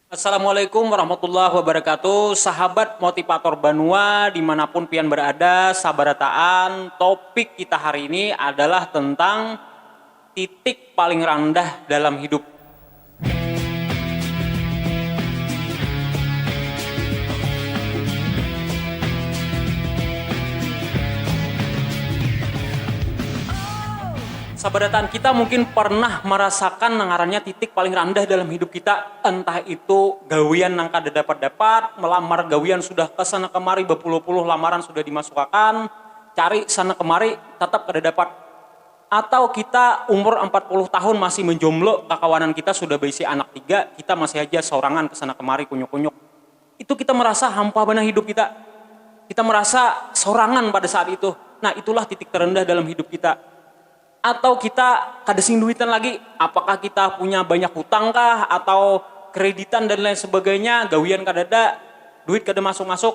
Assalamualaikum warahmatullahi wabarakatuh Sahabat motivator banua dimanapun pian berada sabarataan topik kita hari ini adalah tentang titik paling randah dalam hidup. Sabarataan kita mungkin pernah marasakan nang ngarannya titik paling randah dalam hidup kita, entah itu gawian nang kada dapat-dapat, melamar gawian sudah ke sana kemari bapuluh-puluh lamaran sudah dimasukakan, cari sana kemari tatap kada dapat, atau kita umur ampat puluh tahun masih menjomblo, kakawanan kita sudah baisi anak tiga, kita masih haja saurangan ke sana kemari kunyuk-kunyuk. Itu kita merasa hampa banar hidup kita. Kita merasa sorangan pada saat itu. Nah, itulah titik terendah dalam hidup kita. Atau kita kada sing duitan lagi, apakah kita punya banyak hutang kah atau kreditan dan lain sebagainya, gawian kadada, duit kada masuk-masuk.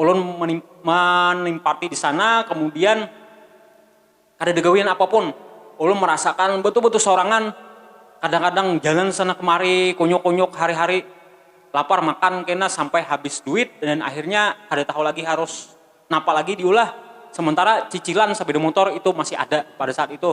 Ulun menempati di sana, kemudian kadada gawian apapun. Ulun merasakan betul-betul sorangan, kadang-kadang jalan sana kemari, kunyuk-kunyuk hari-hari, lapar makan kena sampai habis duit dan akhirnya kada tahu lagi harus napa lagi diulah, sementara cicilan sepeda motor itu masih ada pada saat itu.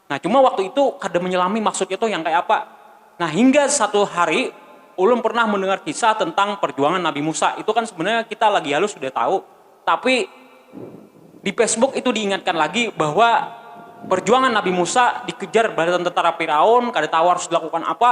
Nah, cuma waktu itu kada menyelami maksudnya tuh yang kaya apa. Nah, hingga satu hari ulun pernah mendengar kisah tentang perjuangan Nabi Musa. Itu kan sebenarnya kita lagi halus sudah tahu, tapi di Facebook itu diingatkan lagi bahwa perjuangan Nabi Musa dikejar baritan tentara Firaun, kada tahu harus dilakukan apa.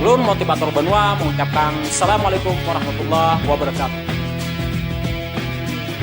Lun Motivator Banua mengucapkan Assalamualaikum warahmatullahi wabarakatuh.